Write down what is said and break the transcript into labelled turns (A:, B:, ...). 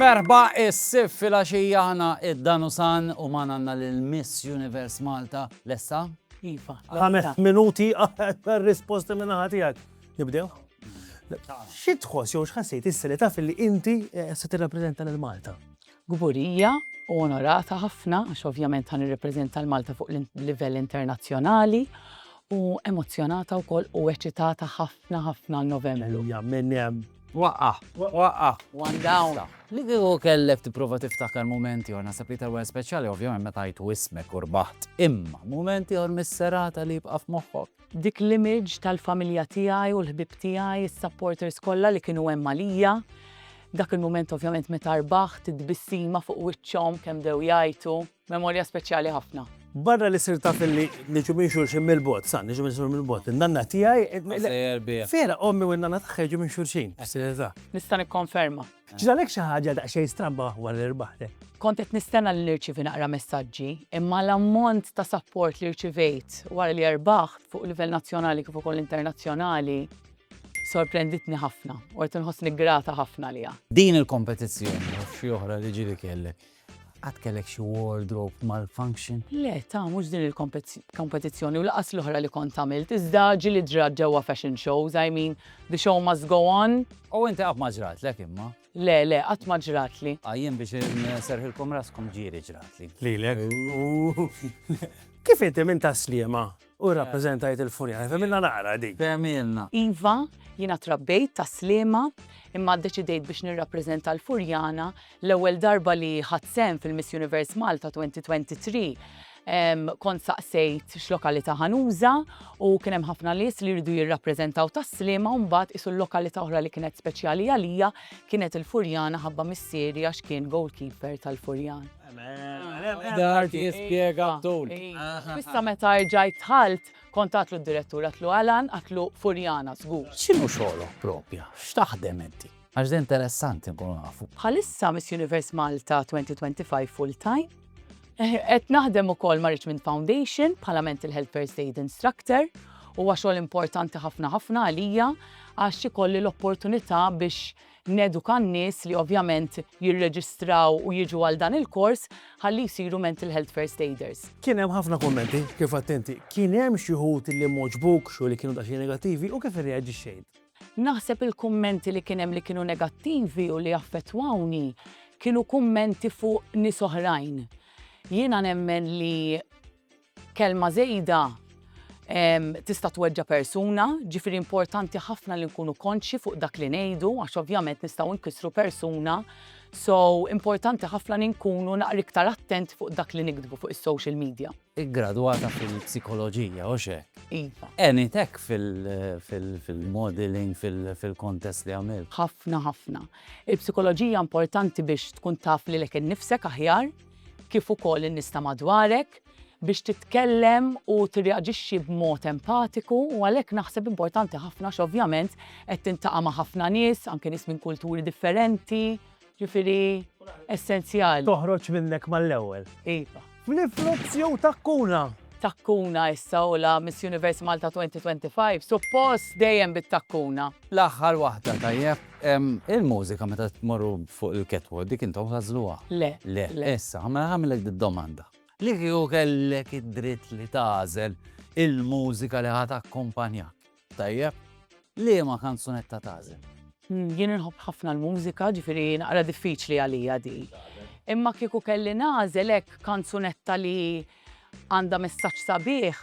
A: Merħba is-sif fil-għaxija aħna id-Danusan u magħna għandna lil Miss Universe Malta lesta. Iva.
B: Ħames minuti
C: għal risposti minn naħa tiegħek. Nibdew? Xi tħoss jew x'ħassejt issa li taf li inti eh, se tirrappreżenta lil Malta? Kburija
B: u onorata ħafna għax ovvjament ħa nirrepreżenta 'l Malta fuq l-livell internazzjonali u emozzjonata wkoll u eċitata ħafna ħafna għal Novembru. Ejja minn hemm.
C: Waqqa'! Waqqa'!
A: One down!
B: Li kieku kellek
A: tipprova tiftakar mument ieħor, naħseb li tal-wieħed speċjali ovvjament meta għajtu ismek u rbaħt. Imma mument ieħor mis-serata li jibqa' f'moħħok? Dik l-image
B: tal-familja tiegħi u l-ħbieb tiegħi, is-supporters kollha li kienu hemm għalija. Dak il-mument ovvjament meta rbaħt, it-tbissima fuq wiċċhom kemm bdew jgħajtu. Memorja speċjali ħafna. Barra li sirt taf
C: li niġu minn xulxin mill-bogħod, sa niġu minn xulxin mill-bogħod, in-nanna tiegħi, vera ommi u n-nanna tagħha jiġu minn xulxin, fis-serjetà. Nista'
B: nikkonferma. Ġralek xi ħaġa
C: daqsxejn stramba wara li rbaħtek? Kont qed nistenna li
B: nirċievi naqra messaġġi, imma l-ammont ta' sapport li rċivejt wara li rbaħt fuq livell nazzjonali kif ukoll internazzjonali sorprenditni ħafna u qed inħossni grata ħafna għaliha. Din il-kompetizzjoni
A: u xi oħra li ġieli kellek, Għad kellek xi wardrobe malfunction? Le, ta' mhux din
B: il-kompetizzjoni u laqas l-oħra li kont għamilt, iżda ġieli ġrat ġewwa fashion shows, I mean, the show must go on. U inti qatt ma
A: ġratlek imma? Le, le, qatt ma
B: ġratli. A jien biex
A: inserħilkom raskom ġieli ġratli. Lilek?
C: Kif inti minn Tas-Sliema? U rrappreżentajt il-furjana. Fehmilna naqra din. Fehmilna. Iva,
B: jiena trabbejt tas-Sliema, imma ddeċidejt biex nirrappreżenta l-Furjana l-ewwel darba li ħadt sehem fil-Miss Universe Malta 2023. Kont saqsejt x'lokalità ħa nuża u kien hemm ħafna nies li jridu jirrappreżentaw tas-Sliema u mbagħad qisu l-lokalità oħra li kienet speċjali għalija kienet il-Furjana ħabba missieri għax kien goalkeeper tal-Furjana.
A: Dart jispjega tul. Issa meta
B: erġajt dħalt, kont għatlu d-direttur, għatlu Alan, għatlu Furjana żgur. X'inhu xogħlok
A: proprja? X'taħdem inti? Għax din interessanti nkunu nafu. Bħalissa Miss Universe
B: Malta 2025 full time. Qed naħdem ukoll ma' Richmond Foundation bħala Mental Health First Aid Instructor. Huwa xogħol importanti ħafna ħafna għalija għax ikolli l-opportunità biex Neduka n-nies li ovvjament jirreġistraw u jiġu għal dan il-kors ħalli jsiru mental health first aiders. Kien hemm ħafna kummenti,
C: kif għedt inti. Kien hemm xi wħud li m'għoġbukx u li kienu daqsxejn negattivi u kif irreaġixxejt? Naħseb
B: il-kummenti li kien hemm li kienu negattivi u li affettwawni kienu kummenti fuq nies oħrajn. Jiena nemmen li. Kelma żejda tista' tweġġa' persuna, ġifieri importanti ħafna li nkunu konxji fuq dak li ngħidu għax ovvjament nistgħu nkissru persuna. So importanti ħafna li nkunu naqra iktar attent fuq dak li niktbu fuq is-social media. Iggradwata
A: fil-psikoloġija, hux hekk? Iva. Għeniet hekk fil-modeling, fil-kontest li għamilt? Ħafna, ħafna.
B: Il-psikoloġija importanti biex tkun taf lilek innifsek aħjar. kif ukoll in-nies ta' madwarek biex titkellem u tirreaġixxi b'mod empatiku u għalhekk naħseb importanti ħafna għax ovvjament qed tintaqa' ma' ħafna nies, anke nies minn kulturi differenti, ġifieri essenzjali. Toħroġ minnek
C: mal-ewwel. Iva.
B: Niflux jew
C: takkuna? Takkuna
B: issa u la Miss Universe Malta 2025, suppost dejjem bit-takkuna. L-aħħar waħda
A: tajjeb. Il-mużika meta tmorru fuq il-catwalk dik intom tagħżluha? Le. Le.
B: Issa, mela
A: ħagħmilek did-domanda. Li kieku kellek id-dritt li tagħżel il-mużika li ħa takkumpanjak, tajjeb, liema kanzunetta tagħżel? Jien inħobb
B: ħafna l-mużika, ġifieri naqra diffiċli għalija di. Imma kieku kelli nagħżel hekk kanzunetta li għandha messaġġ sabiħ,